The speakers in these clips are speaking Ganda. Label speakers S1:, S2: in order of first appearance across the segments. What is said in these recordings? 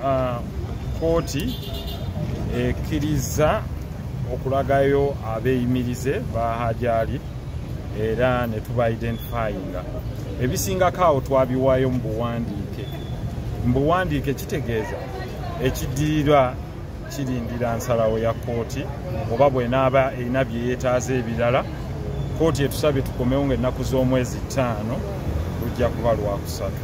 S1: ah, kooti ekkirizza okulagayo abeeyimirize ba hajali era ne tuba identifyinga ebisingako awo twabiwaayo mu buwandiike mu buwandiike kitegeeza ekiddirira kirindira nsalawo ya kooti oba bwenaaba erina bye yeetaaza ebirala kooti etusabye tukomewo ngaennaku z'omwezi ttaano lujja kuba lwakusatu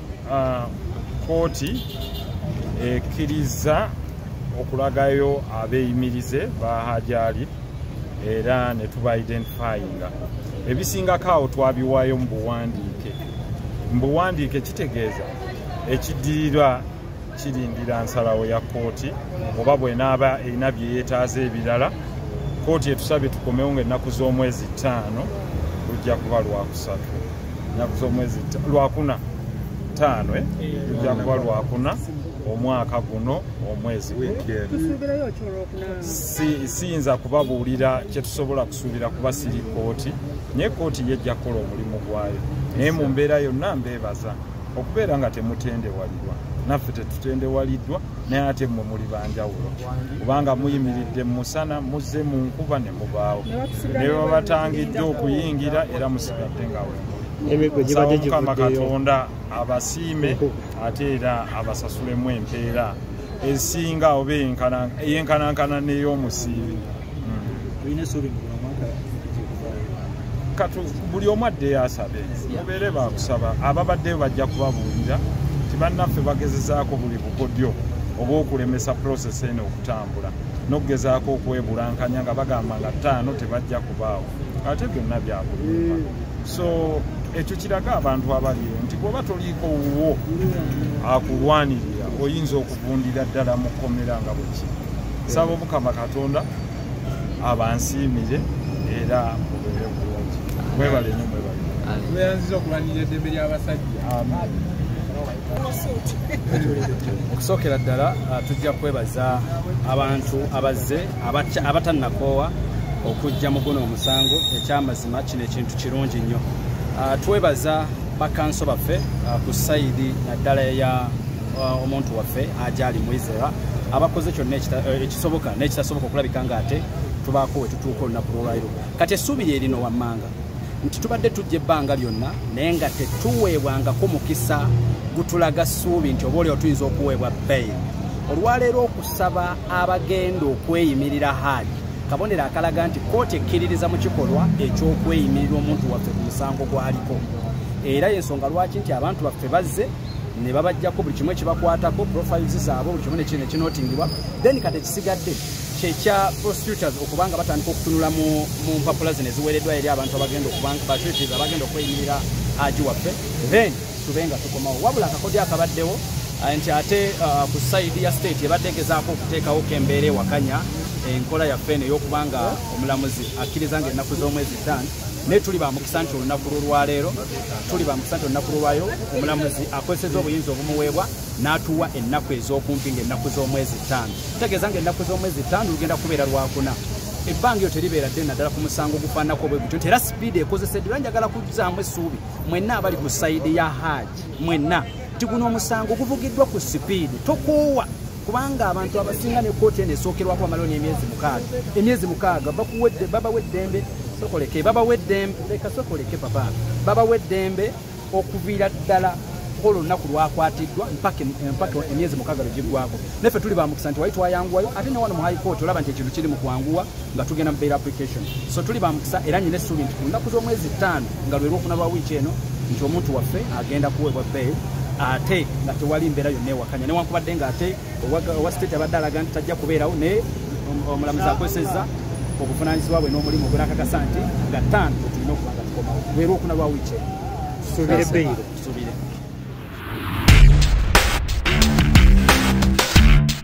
S1: ah, kooti ekkirizza okulagayo abeeyimirize ba hajali era ne tuba identifyinga ebisingako awo twabiwaayo mu buwandiike mu buwandiike kitegeeza ekiddirira kirindira nsalawo ya kkooti oba bwenaaba erina bye yeetaaza ebirala kkooti etusabye tukomewo nga ennaku z'omwezi ttaano lujja kuba lwakusatu ennaku z'omwezi lwakuna ttaano eh? lujja kuba lwakuna omwaka guno omwezi siyinza kubabuulira kyetusobola kusuubira kuba siri kkooti naye kkooti yejja kukola omulimu gwayo naye mu mbeera yonna mbeebaza okubeera nga temutendewalirwa naffe tetutendewaliddwa naye ate mmwe muli banjawulo kubanga muyimiridde mu musana muzze mu nkuba ne mubaawo ne babatangidde okuyingira era musigadde nga wemukama katonda abasiime ate era abasasulemu empeera esinga oba eyenkanankana n'ey'omusiibi katu buli omu addeyo asabe mubeere bakusaba ababaddeyo bajja kubabuulira nti bannaffe bagezezaako buli bukodyo oba okulemesa process eno okutambula nokugezaako okwebulankanya nga bagamba nga ttaano tebajja kubaawo ate byonna byakulimba so ekyo kiraga abantu abaliyo nti bwoba toliiko wuwo akulwanirira oyinza okuvundira ddala mu kkomera nga bwekiri nsaba omukama katonda abansiimire era mubeere bulungi mwebale nyo mwebale weyanziza okulwanirira
S2: eddembe ly'abasajja
S3: okusookera ddala uh, tujja kwebaza abantu abazze abatannakoowa okujja mu guno omusango ekyamazima kino ekintu kirungi nnyo uh, twebaza bakanso baffe uh, ku sayidi naddala eya uh, omuntu waffe ajali mwizera abakoze kyonna uh, ekisoboka n'ekitasoboka okulabika nga ate tubaako we tutuuka olunaku lwolwairo kati essuubi lye lino wammanga nti tubadde tujja ebbanga lyonna naye nga tetuweebwangako mukisa gutulaga ssuubi nti oba olio tuyinza okuweebwa bail olwaleero okusaba abagenda okweyimirira haaji kabonero akalaga nti kooti ekkiririza mu kikolwa eky'okweyimirira omuntu waffe ku musango gwaliko era yensonga lwaki nti abantu baffe bazze ne babajjako buli kimu ekibakwatako profiles zaabwe buli kimu nekino nekinotingibwa then kati ekisigadde kyekya prosecutors okuba nga batandika okutunula mu mpapula zino eziweereddwa eri abantu abagenda okubabatutors abagenda okweyimirira aji waffe then tube nga tukomawo wabula akakodyo akabaddewo uh, nti ate uh, ku saidi ya state ebadde egezaako okuteekawo kembeera ewakanya enkola yaffe eno ey'okuba nga omulamuzi akkiriza nga ennaku z'omwezi tan naye tuli bamukisa nti olunaku lwolwaleero tuli bamukisa nti olunaku lwolwayo omulamuzi akozeseza obuyinza obumuweebwa n'atuwa ennaku ez'okumpi ngaennaku z'omwezi ttaano kitegeeza nga ennaku z'omwezi ttaano lugenda kubeera lwakuna ebbanga eyo teribeera ddene naddala ku musango ogufaananako obwe gutyo nti era sipiidi ekozeseddwa era njagala kuzzaamu essuubi mwenna abali ku sayidi ya haaji mwenna nti guno omusango guvugiddwa ku sipiidi tokoowa kubanga abantu abasinga ne kkooti eno esookerwako bamalawo n'emyezi mukaaga emyezi mukaaga bakuwedde babawa eddembe sokoleke babawa eddembe leka sokoleke papa babawa eddembe okuviira ddala olwo olunaku lwakwatiddwa mpaka eh, emyezi mukaaga lwe giggwako naffe tuli bamukisa nti wali twayanguwayo ate ne wano mu high court olaba nti ekintu kiri mu kwanguwa nga tugenda mu bail application so tuli bamukisa era nyina essuubi nti ku lunaku z'omwezi ttaano nga lwe lwokuna lwa wiiki eno nti omuntu waffe agenda kuweebwa bail ate nga tewali mbeera yonna ewakanya newankubadde nga ate owa state abadde alaga nti tajja kubeerawo naye omulamuzi akozesezza obuvunanyizibwa bwe n'omulimu gwe nakakasa nti nga ttaano wetulina okuba nga
S4: tukomawo
S3: lwe lwokuna lwa wiiki eno
S4: tusuubire
S3: bail tusuubire